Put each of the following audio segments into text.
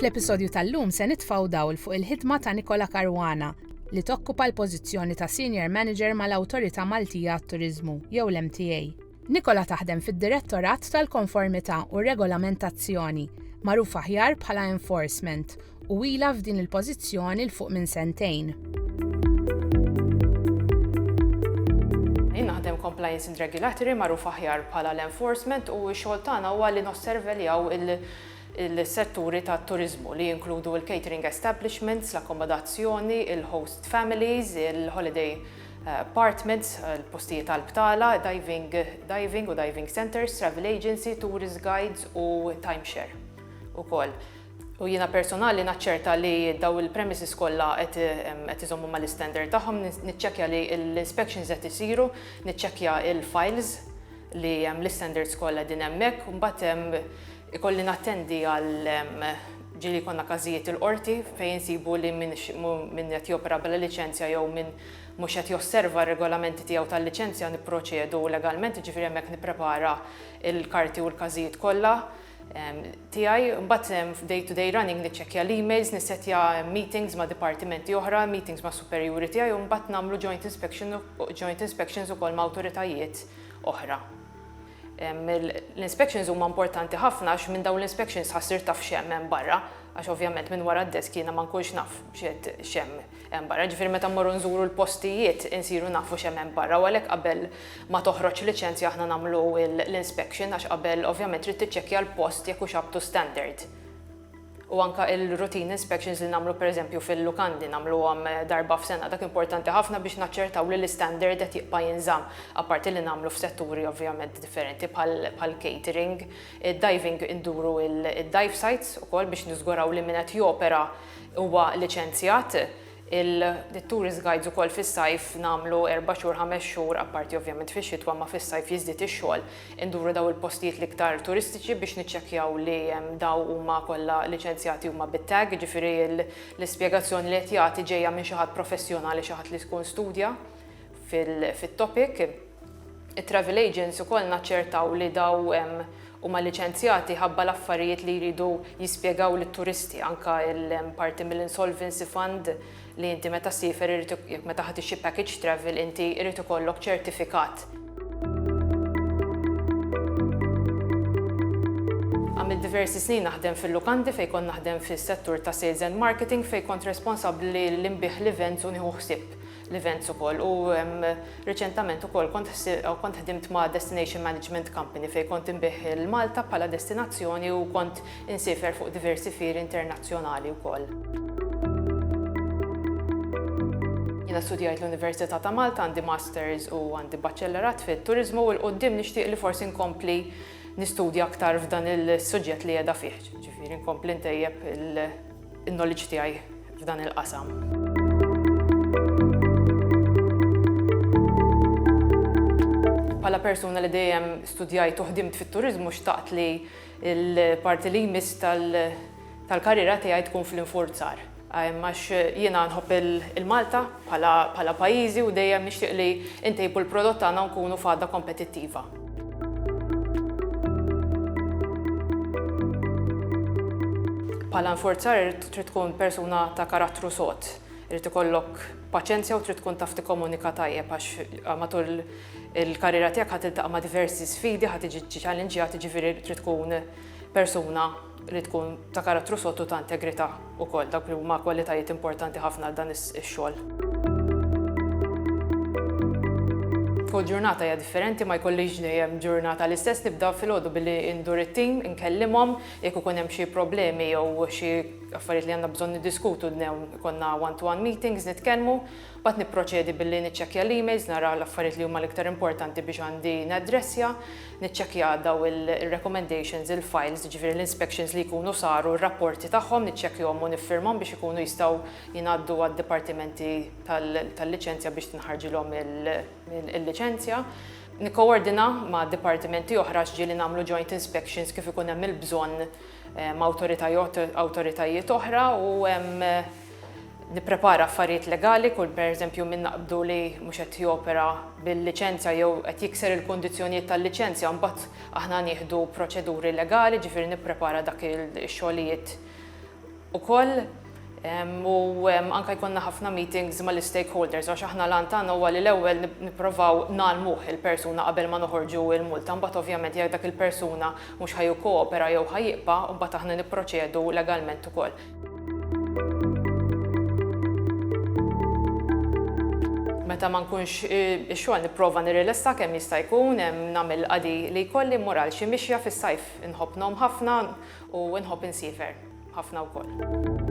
Fl-episodju tal-lum se nitfaw dawl fuq il-ħidma ta' Nikola Caruana li tokkupa l-pożizzjoni ta' Senior Manager mal-Awtorità Maltija għat-Turiżmu jew l-MTA. Nikola taħdem fid-Direttorat tal-Konformità u Regolamentazzjoni, magħruf aħjar bħala Enforcement, u ilha f'din il-pożizzjoni 'l fuq minn sentejn. Jien naħdem Compliance and Regulatory, magħruf aħjar bħala l-Enforcement, u x-xogħol tagħna huwa li nosserveljaw il-setturi tat-turiżmu li jinkludu l-catering establishments, l-akkomodazzjoni, il-host families, il-holiday apartments, il-postijiet għall-btala, diving, diving u diving centres, travel agency, tourist guides u timeshare ukoll. U jiena personali naċċerta li dawn il-premises kollha qed iżommu mal-istandard tagħhom, niċċekkja li l-inspections qed isiru, niċċekkja l-files li hemm l-istandards kollha qegħdin hemmhekk, u mbagħad ikolli nattendi għal ġieli jkollna każijiet il-qorti fejn insibu li min qed jopera bla liċenzja jew min mhux qed josserva r-regolamenti tiegħu tal-liċenzja nipproċedu legalment, jiġifieri hemmhekk nipprepara l-karti u l-każijiet kollha. tiegħi, mbagħad f'day to day running niċċekkja l-emails, nissettja meetings ma' dipartimenti oħra, meetings ma' superjuri tiegħi u mbagħad nagħmlu joint inspection joint inspections ukoll ma' awtoritajiet oħra. L-inspections huma importanti ħafna għax minn dawn l-inspections ħassir taf xemm hemm barra, għax ovvjament minn wara d-desk jiena ma nkunx naf x'qed xemm. hemm barra, jiġifieri meta mmorru nżuru l-postijiet insiru nafu x'hemm hemm barra u għalhekk qabel ma toħroġ liċenzja aħna nagħmlu l-inspection għax qabel ovvjament trid tiċċekkja l-post jekk hux up to standard. U anke il-routine inspections li nagħmlu pereżempju fil-lukandi nagħmluhom darba f'sena dak importanti ħafna biex naċċertaw li l-istandard qed jibqa' jinżamm apparti li nagħmlu f'setturi ovvjament differenti bħal catering, id-diving induru d-dive sites ukoll biex niżguraw li min qed jopera Huwa liċenzjat, il-tourist guides ukoll fis-sajf nagħmlu erba' xhur, ħames xhur, apparti ovvjament fix-xitwa imma fis-sajf jiżdied ix-xogħol, induru dawn il-postijiet l-iktar turistiċi biex niċċekkjaw li dawn huma kollha liċenzjati huma bit-tag, jiġifieri l-ispjegazzjoni li qed jagħti ġejja minn xi ħadd professjonali, xi ħadd li jkun studja. Fit-topic, it-travel agents ukoll naċċertaw li daw huma liċenzjati ħabba l-affarijiet li jridu jispjegaw lit-turisti, anke parti mill-insolvency fund li inti meta ssiefer irid jekk meta ħa tixtri package travel inti irid ikollok ċertifikat. Għamilt diversi snin naħdem fil-lukandi fejn kont naħdem fis-settur ta' sales and marketing fejn kont responsabbli li nbigħ l-events u nieħu ħsieb l-events ukoll u riċentament ukoll kont kont ħdimt ma' destination management company fejn kont inbih il-Malta bħala destinazzjoni u kont insiefer fuq diversi fieri internazzjonali wkoll. Jiena studjajt l-Università ta' Malta għandi Masters u għandi Baċellerat fit-Turiżmu u 'l quddiem nixtieq li forsi nkompli nistudja aktar f'dan il-suġġett li qiegħda fih, ġifieri nkompli ntejjeb il- in-knowledge tiegħi f'dan il-qasam. Pala persuna li dejjem studjajt u ħdimt fit-turizmu xtaqt li l-parti li jmiss tal-karriera tiegħi tkun fl-infurzar. Għax jiena nħobb il-Malta pala pajizi u dejjem nixtieq li intejbu l-prodott tagħna nkunu fada kompetittiva. Bħala nforzar irid trid tkun persuna ta' karattru sod, irid ikollok paċenzja u trid tkun taf tikkomunika tajjeb għax eh, matul il-karriera tiegħek ħadd iltaqa' ma' diversi sfidi, ħadd tiġi ċhallenġjat, jiġifieri trid tkun persuna li tkun ta' karattru sod u ta' integrità wkoll, dawk li huma kwalitajiet importanti ħafna għal dan ix-xogħol. Kull ġurnata hija differenti, ma jkollix dejjem ġurnata l-istess, nibda filgħodu billi ndur it-tim, inkellimhom, jekk ikun hemm xi problemi jew xi affarijiet li għandna bżonn niddiskutu ikollna one-to-one meetings nitkellmu, mbagħad nipproċedi billi niċċekkja l-emails nara l-affarijiet li huma l-iktar importanti biex għandi naddressja, Niċċekkja daw il-recommendations, il-files, jiġifieri l-inspections li jkunu saru, r-rapporti tagħhom niċċekkjhom u niffirmhom biex ikunu jistgħu jingħaddu għad-dipartimenti tal-liċenzja biex tinħarġilhom il-liċenzja. Nikkowordina ma' dipartimenti oħra x'ġieli nagħmlu joint inspections kif ikun hemm il-bżonn ma' awtoritajiet oħra u nipprepara affarijiet legali kull pereżempju min naqbdu li mhux qed jopera bil-liċenzja jew qed jikser il-kundizzjonijiet tal-liċenzja mbagħad aħna nieħdu proċeduri legali ġifieri nipprepara dak ix-xogħlijiet ukoll u anke jkollna ħafna meetings mal-istakeholders għax aħna l-għan tagħna huwa li l-ewwel nipprovaw ngħallmuh il-persuna qabel ma noħorġu l-multa mbagħad ovvjament jekk dak il-persuna mhux ħa jikkoopera jew ħa jibqa' mbagħad aħna nipproċedu legalment ukoll. meta ma nkunx ix-xogħol nipprova nirrilessa kemm jista' jkun hemm nagħmel qadi li jkolli mmur għal xi mixja fis-sajf inħobb nom ħafna u nħobb insiefer ħafna wkoll.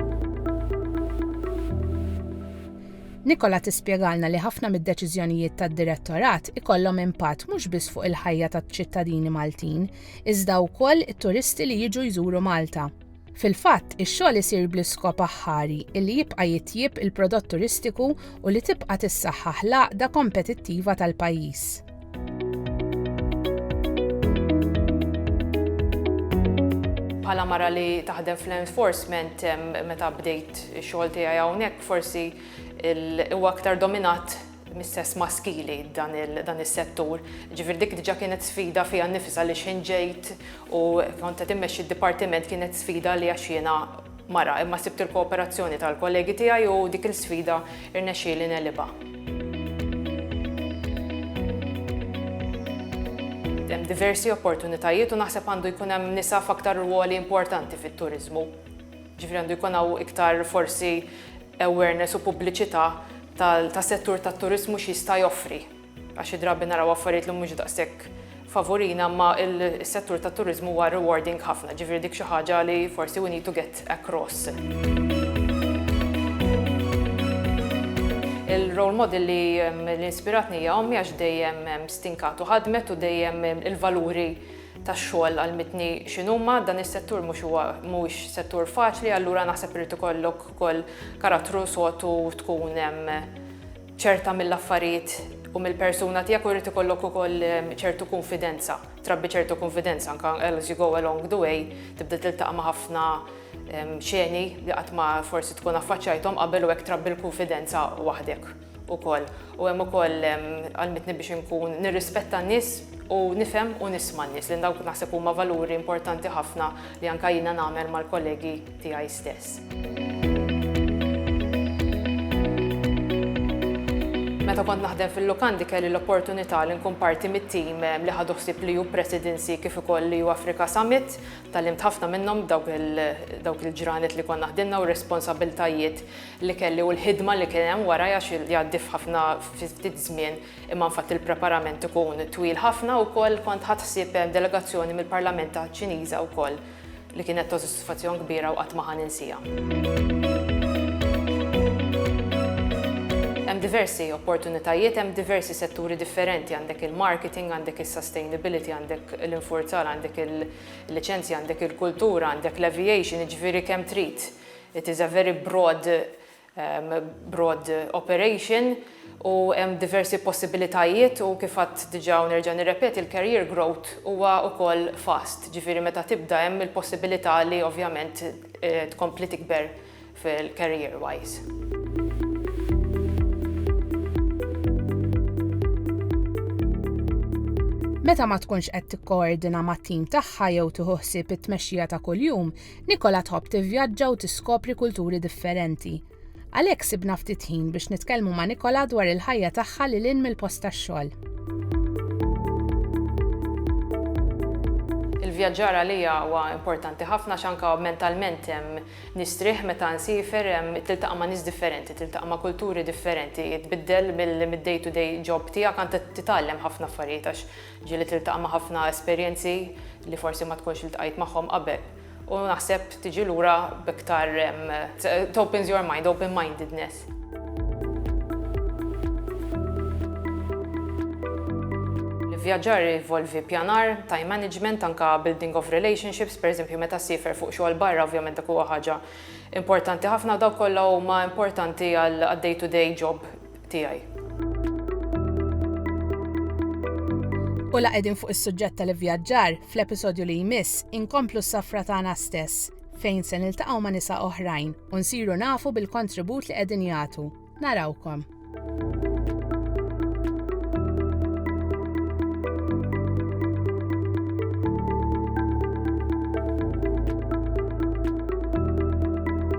Nikola tispjegalna li ħafna mid-deċiżjonijiet tad-Direttorat ikollhom impatt mhux biss fuq il-ħajja taċ-ċittadini Maltin, iżda wkoll it-turisti li jiġu jżuru Malta. Fil-fatt, ix-xogħol isir bl-iskop aħħari li jibqa' jitjieb il-prodott turistiku u li tibqa' tissaħħaħ l-għaqda kompetittiva tal-pajjiż. Bħala mara li taħdem fl-enforcement meta bdejt ix-xogħol tiegħi hawnhekk forsi huwa aktar dominat mis-sess maskili dan is-settur. Ġifieri dik diġà kienet sfida fiha nnifisha għaliex ħin ġejt u kont qed immexxi d-dipartiment kienet sfida għalija għax jiena mara, imma sibt il-kooperazzjoni tal-kollegi tiegħi u dik il-sfida rnexxieli negħlibha. Hemm diversi opportunitajiet u naħseb għandu jkun hemm nisa f'aktar rwoli importanti fit-turiżmu. Ġifieri għandu jkun hawn iktar forsi awareness u pubbliċità tas-settur tat-turiżmu x'jista' joffri, għax xi drabi naraw affarijiet li mhux daqshekk favurina, imma s-settur tat-turiżmu huwa rewarding ħafna, ġifieri dik xi ħaġa li forsi we need to get across. Il-role model li inspiratni hija ommi għax dejjem stinkat u ħadmet u dejjem il-valuri tax-xogħol għall-midni x'inhuma, dan is-settur mhux huwa mhuwiex settur faċli, allura naħseb irid ikollok ukoll karattru sod u tkun ċerta mill-affarijiet u mill-persuna tiegħek u jrid ikollok ukoll ċertu kunfidenza, trabbi ċertu kunfidenza anke as you go along the way tibda tiltaqa' ma' ħafna xeni li qatt ma forsi tkun affaċċajthom qabel u hekk trabbi l-kunfidenza waħdek. ukoll. U hemm ukoll għallmitni biex inkun nirrispetta n-nies u nifhem u nisma' n-nies li dawk naħseb huma valuri importanti ħafna li anke jiena nagħmel mal-kollegi tiegħi stess. Meta kont naħdem fil-lukandi kelli l-opportunità li nkun parti mit-tim eh, li ħadu ħsieb li ju presidency kif ukoll li ju Afrika Summit, tal-imt ħafna minnhom dawk il-ġranet li konna naħdimna u responsabiltajiet li kelli u l-ħidma li kien hemm wara għax jgħaddi f'ħafna fi ftit żmien imma infatti l-preparament ikun twil ħafna wkoll kont ħadt ħsieb delegazzjoni mill-Parlament Ċiniża wkoll li kienet ta' sodisfazzjon kbira u qatt ma ħa ninsiha. Hemm diversi opportunitajiet, hemm diversi setturi differenti, għandek il-marketing, għandek is-sustainability, għandek l-infurzar, għandek il-liċenzji, għandek il-kultura, għandek l-aviation, jiġifieri kemm trid. It is a very broad broad operation u hemm diversi possibilitajiet u kif għadt diġà u nerġa' nirrepeti l-career growth huwa wkoll fast, ġifieri meta tibda hemm il-possibilità li ovvjament tkompli tikber fil-career wise. Meta ma tkunx qed tikkoordina mat-tim tagħha jew tieħu ħsieb it-tmexxija ta' kuljum, Nicola tħobb tivvjaġġa u tiskopri kulturi differenti. Għalhekk sibna ftit ħin biex nitkellmu ma' Nicola dwar il-ħajja tagħha lil hinn mill-post tax-xogħol. Il-vjaġġar għalija huwa importanti ħafna għax anke mentalment nistrieħ meta nsiefer, tiltaqa' ma' nies differenti, tiltaqa' ma' kulturi differenti, tbiddel mid-day to day job tiegħek, anke titgħallem ħafna affarijiet għax Ġieli tiltaqa' ma' ħafna esperjenzi li forsi ma tkunx iltqajt magħhom qabel u naħseb tiġi lura b'iktar it opens your mind, open mindedness. L-ivvjaġġar jinvolvi pjanar, time management, anke building of relationships, pereżempju meta ssiefer fuq xogħol barra ovvjament dak huwa ħaġa importanti ħafna u dawk kollha huma importanti għall-day to day job tiegħi. U la qegħdin fuq is-suġġett tal-ivvjaġġar, fl-episodju li jmiss inkomplu s-safra tagħna stess fejn se niltaqgħu ma' nisa oħrajn u nsiru nafu bil-kontribut li qegħdin jagħtu. Narawkom.